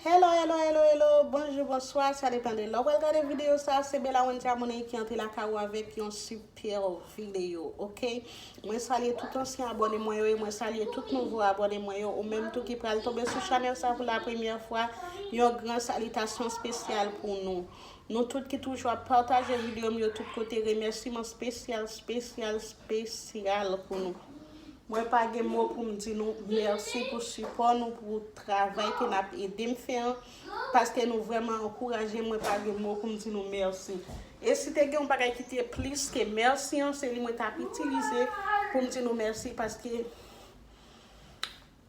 Hello hello hello hello bonjou bonswa sa depan de lè ou pral gade video sa se Bella Wenthia Money ki antre lakay ou avèk yon super video ok mwen salye tout ansyen abòne mwen yo e mwen salye tout nouvo abòne mwen yo ou menm tou ki pral tonbe sou chanèl sa pou la premyè fwa yon gran salitasyon spesyal pou nou Nou tout ki toujou ap pataje video m yo tout kote remèsiman spesyal spesyal spesyal pou nou. Mwen pa gen mo pou m di nou mèsi pou sipò nou pou travay ke nap ede m fè an paske nou vrèman ankouraje m mwen pa gen mo pou m di nou mèsi. E si te gen yon bagay ki te plis ke mèsi an se li mwen tap itilize pou m di nou mèsi paske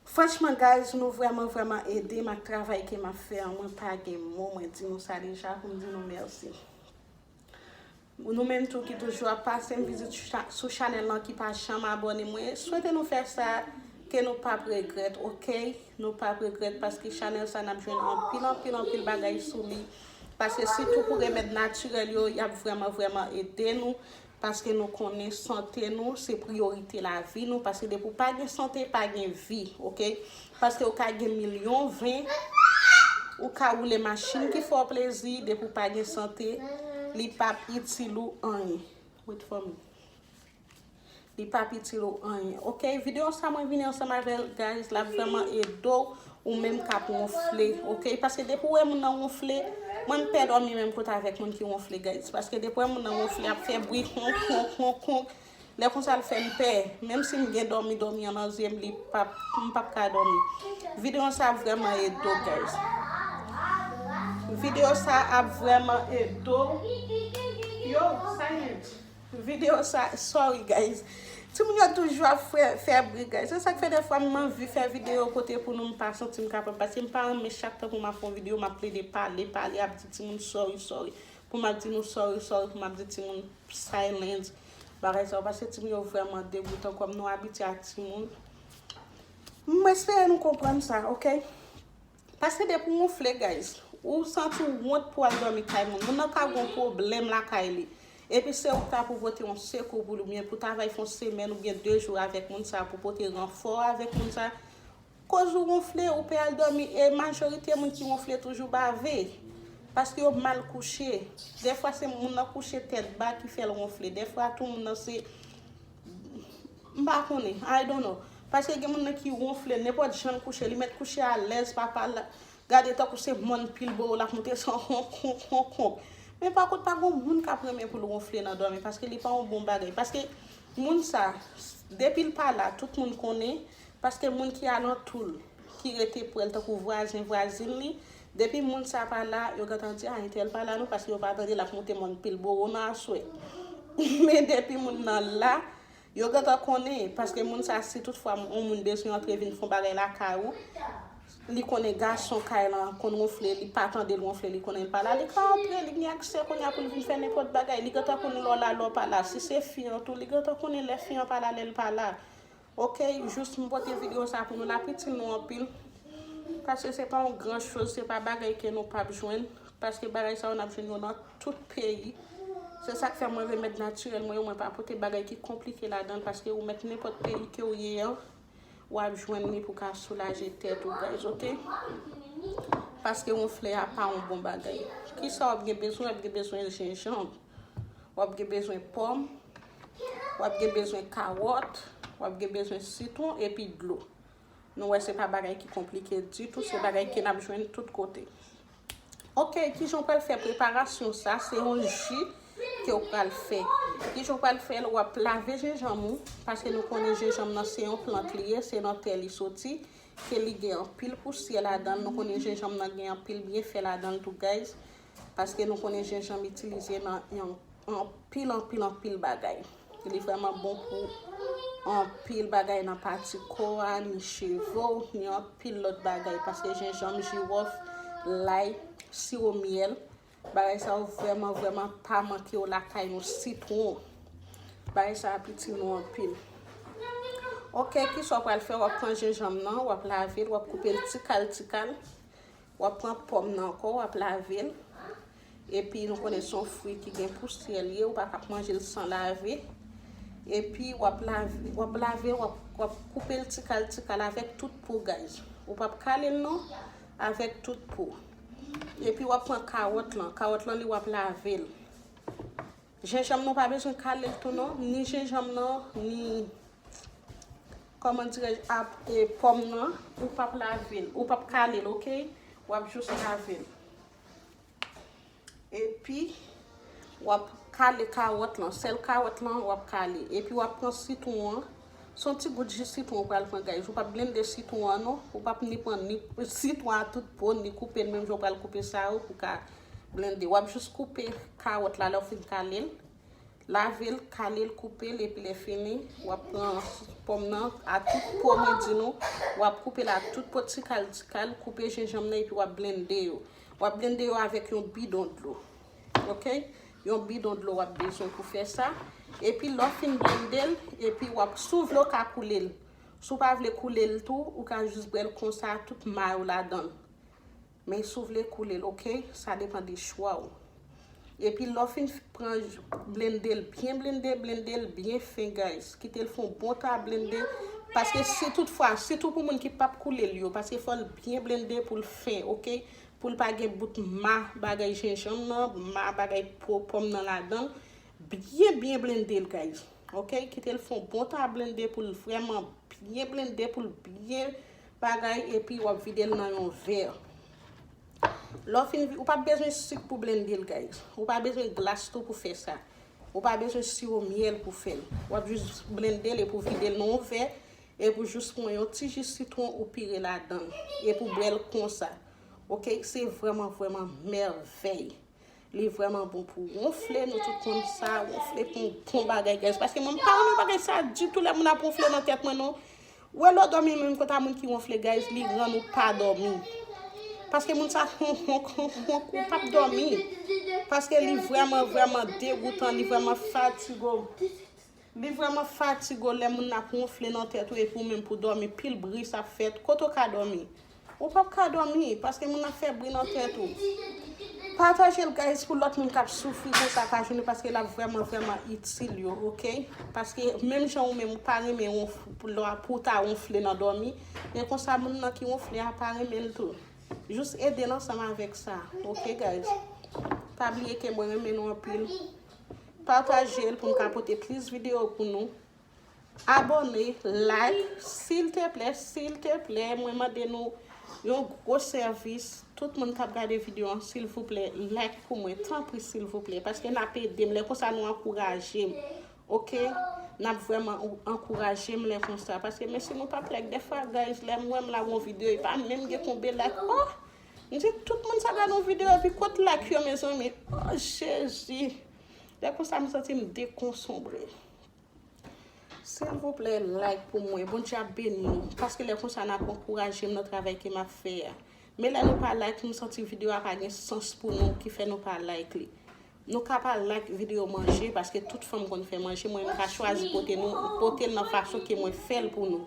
Franchman guys nou vrèman vrèman edem ak travay ke map fè an mwen pa gen mo mwen di nou sa deja poum di nou mèsi nou menm tou ki toujou ap pasem vizit sou chanèl lan ki pa janm abòne mwen swete nou fè sa ke nou pap regrèt ok nou pap regrèt paske chanèl sa nap jwenn anpil anpil anpil bagay sou li paske sitou pou remèd natirèl yo yap vrèman vrèman ede nou Paske nou konnen sante nou se priyorite lavi nou paske depi ou pa gen sante pa gen vi ok paske ou ka gen milyon ven ou ka woule machin ki fè w plezi depi ou pa gen sante li pap itil ou anyen wait for me li pap itil ou anyen ok videyo sa mwen vini ansanm avèl guys lap vrèman ede w Ou menm kap wonfle ok paske depi ou wè moun nan wonfle mwen m pè dòmi menm kot avèk moun ki wonfle guys paske depi ou wè moun nan wonfle ap fè bri konk konk konk konk lè konsa l fèm pè menm sim gen dòmi dòmi an nan zyem li pap m pap ka dòmi videyo sa ap vrèman ede w guys videyo sa ap vrèman ede w yo sa yon. Video sa sorry guys. Timoun yo toujou ap fè bri guys. Se sak fè dèfwa m anvi fè video kote pou nou m pa santi m kapab. Paske m pa renmen chak tan pou m ap fè yon video m ap plede pale pale ap di timoun sorry sorry. Pou m ap di nou sorry sorry pou m ap di timoun silence. Bagay sa yo paske timoun yo vrèman degoutan kòm nou abitye ak timoun. M espere nou konprann sa ok. Paske depi ou wonfle guys, ou santi ou wont pou al dòmi kay moun. Moun nan ka gon pwoblèm lakay li. Epi se ou ki ta pou pote yon sekou pou li oubyen pou travay fon semèn oubyen 2 jou avèk moun sa pou pote ranfò avèk moun sa. Koz ou wonfle, ou pe al dòmi e majorite moun ki wonfle toujou bave. Paske yo mal kouche. Dèfwa se moun nan kouche tèt ba ki fèl wonfle. Dèfwa tou moun nan se. M pa konnen. I don't know. Paske gen moun nan ki wonfle nenpòt jan l kouche, li mèt kouche alèz, papa l gade tankou se mòn pilbowo l ap moute san honk honk honk. Men pa kont pa gon moun k ap renmen pou l wonfle nan dòmi paske li pa yon bon bagay. Paske moun sa depi l pa la tout moun konnen paske moun ki alantou l, ki rete prè l tankou vwazen vwazin li Depi moun sa pa la yo gentan di a intèl pa la non paske yo pa tande lap moute mòn pilbowo nan aswè men depi moun nan la yo gentan konnen paske moun sa si tout fwa yon moun bezwen antre vin fon bagay lakay ou li konnen gason kay lan konn ronfle li pa tandel ronfle li konnenl pa la li ka antre li gen aksè kounye a poul vin fè nenpòt bagay li gentan konn lè w la lè w pa la si se fi an tou li gentan konnen lè fi an pa la lèl pa la Ok jus m pote video sa pou nou l ap itil nou anpil paske se pa yon gran choz se pa bagay ke nou pap jwenn paske bagay sa yo n ap jwenn yo nan tout peyi se sak fè mwen remèd natirèl mwen yo mwen pa pote bagay ki konplike ladan l paske ou mèt nenpòt peyi ke ou ye an w ap jwenn li pou w ka soulaje tèt ou guys ok paske wonfle a pa yon bon bagay kisa w ap gen bezwen w ap gen bezwen jenjanb w ap gen bezwen pòm wap gen bezwen kawòt, wap gen bezwen sitwon epi dlo. Nou wè se pa bagay ki konplike ditou, se bagay ke nap jwenn tout kote. Ok, kijan ou pral fè preparasyon sa, se yon ji ke ou pral fè. Kijan ou pral fèl, wap lave jenjanm ou, paske nou konnen jenjanm nan se yon plant li ye, se nan tè li soti, ke li gen anpil pousyè ladanl, nou konnen jenjanm nan gen anpil byenfè ladanl tou guys. paske nou konnen jenjanm itilize nan anpil anpil anpil bagay li vreman bon pou anpil bagay nan pati ko a ni cheve w ni anpil lot bagay paske jenjanm jirof lay siwo myèl bagay sa yo vreman vreman pa manke yo lakay nou sitwon bagay sa ap itil nou anpil ok kisa w pral fè w ap pran jenjanm nan w ap lave l w ap koupe l tikal tikal Wap pran pòm nan ankò wap lavel epi nou konnen son fwi ki gen pousyè liye ou paka ap manjel san lave epi wap lave wap lave wap koupel tikal tikal avèk tout po guys ou pap kalel non avèk tout po epi wap pran kawòt lan kawòt lan li wap lavel. Jenjanm nan pa bezwen kale tou non, ni jenjanm nan, ni kòman dirèj ap e pòm nan, ou pap lavel, ou pap kalel ok, wap jous lavel. Epi wap kale kawòt lan, sèl kawòt lan wap kale, epi wap pran sitwon an, son ti gout ji sitwon ou pral pran guys, ou pap blende sitwon an non, ou pap ni pran ni sitwon a tout po, ni koupel menm jan ou pral koupe sa yo pou ka Blende, wap jous koupe kawòt la lè ou fin kalel, lavel, kalel, koupel epi lè fini wap pran pòm nan a tout po mwen di nou, wap koupel a tout po tikal tikal, koupe jenjanm nan epi wap blende yo. Wap blende yo avèk yon bidon dlo. Ok, yon bidon dlo wap bezwen pou fè sa. Epi lè ou fin blendel, epi wap, si ou vle ou ka koulel, si ou pa vle koulel tou, ou ka jous bwèl konsa tout may ou ladann. Men si w vle koule l ok, sa depan de chwa w. Epi lè w fin pran blende l byen blende, blende l byen fen guys. Kite l fè yon bon ta blende paske si tout fwa, sitou pou moun ki pap koule l yo, paske fò l byen blende pou l fen ok, pou l pa gen bout ma bagay jenjanm nan, ma bagay po pòm nan ladan. Byen byen blende l guys ok, kite l fè yon bon ta blende pou l vrèman byen blende pou l byen Bagay epi wap videl nan yon verre. Lè w fin vide, ou pa bezwen sik pou blende l guys. Ou pa bezwen glas tou pou fè sa. Ou pa bezwen siro myèl pou fè l. Wap jis blende l epi w vide l nan yon verre epi w jis pran yon ti ji sitwon ou pire ladan l epi w bwè l konsa. Ok, se vrèman vrèman mèvèy. Li vreman bon pou wonfle nou tout konn sa wonfle pou bon bagay guys paske mwen pa renmen bagay sa ditou lè moun ap wonfle nan tèt mwen non wè lò dòmi menm kont a moun ki wonfle guys li rann ou pa dòmi paske moun sa honk honk honk honk ou pap dòmi paske li vreman vreman degoutan li vreman fatigo. Li vrèman fatigo lè moun nan ap wonfle nan tèt ou epi ou menm pou dòmi pil bri sa ap fèt kote ou ka dòmi ou pap ka dòmi paske moun nan fè bri nan tèt ou patajel guys pou lòt moun kap soufri konsa pa jounne paske lap vrèman vrèman itil yo ok paske menm jan ou menm ou pa renmen wonfle pou ta wonfle nan dòmi e konsa moun nan ki wonfle a pa renmenl tou jus edel ansanm avèk sa ok guys pa bliye ke mwen renmen nou anpil. Patajel poum ka pote plis video pou nou. Abone, like, sil te plè, sil te plè, mwen mande nou yon gwo sèvis, tout moun kap gade video an sil vou plè like pou mwen, tanpri sil vou plè, paske nap edem, lè konsa nou ankourajem, ok, nap vreman ankourajem lè konsa, paske men si nou pap like, dèfwa guys lèm wèm la gon video e pa menm gen konbe like, ohh. M di tout moun sa gad yon video epi kot like yo mezanmi oh jezi lè konsa m santi m dekonsonbre silvouplè like pou mwen bondye ap beni nou paske lè konsa nap ankouraje m nan travay ke map fè a men lè nou pa like m santi video a pa gen sans pou nou ki fè nou pa like li Nou ka pa like video manje paske tout fanm konn fè manje mwen mka chwazi pote nou potel nan fason ke mwen fèl pou nou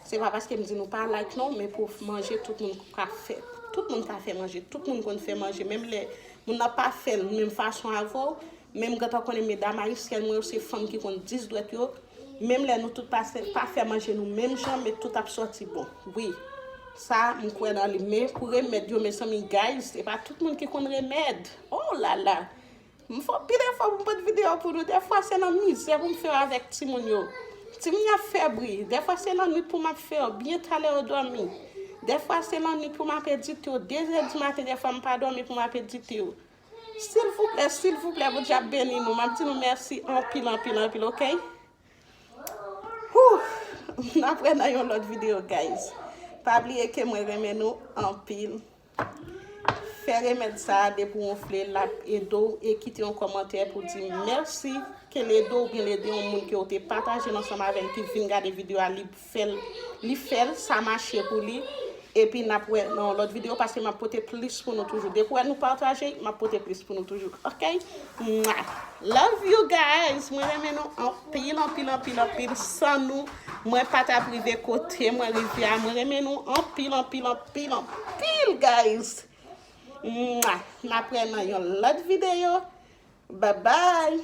se pa paske mdi nou pa like non men pou manje tout moun ka fè tout moun ka fè manje tout moun konn fè manje menm lè moun nan pa fèl menm fason avèw men mgentan konnen medam ayisyèn mwen yo se fanm ki konn 10 dwèt yo menm lè nou tout pase pa fè manje nou menm jan men tout ap sòti bon wi sa mkwè nan li men pou remèd yo mezanmi guys se pa tout moun ki konn remèd. Oh lala m fè anpil efò pou m pot video pou nou defwa se nan mizè pou m fè yo avèk timoun yo timoun yo ap fè bri defwa se nan nwit pou m ap fè yo byen talè yo dòmi defwa se nan nwit pou m ap edite yo dezè di maten defwa m pa dòmi pou m ap edite yo silvouplè silvouplè Bondye ap beni nou m ap di nou mèsi anpil anpil anpil ok hoo n ap wè nan yon lòt video guys pa bliye ke mwen renmen nou anpil. Fè remèd sa depi w anfle lap ede w e kite yon kòmantè pou di mèsi ke l ede w oubyen l ede yon moun ke w te pataje l ansanm avè l ki vin gade video a li fèl li fèl sa mache pou li epi nap wè nan yon lòt video paske map pote plis pou nou toujou depi w wè nou pataje map pote plis pou nou toujou ok. Mwah Love you guys mwen renmen nou anpil anpil anpil anpil san nou mwen pa tap rive kote mwen rive a mwen renmen nou anpil anpil anpil anpil guys mwah nap wè nan yon lòt video babay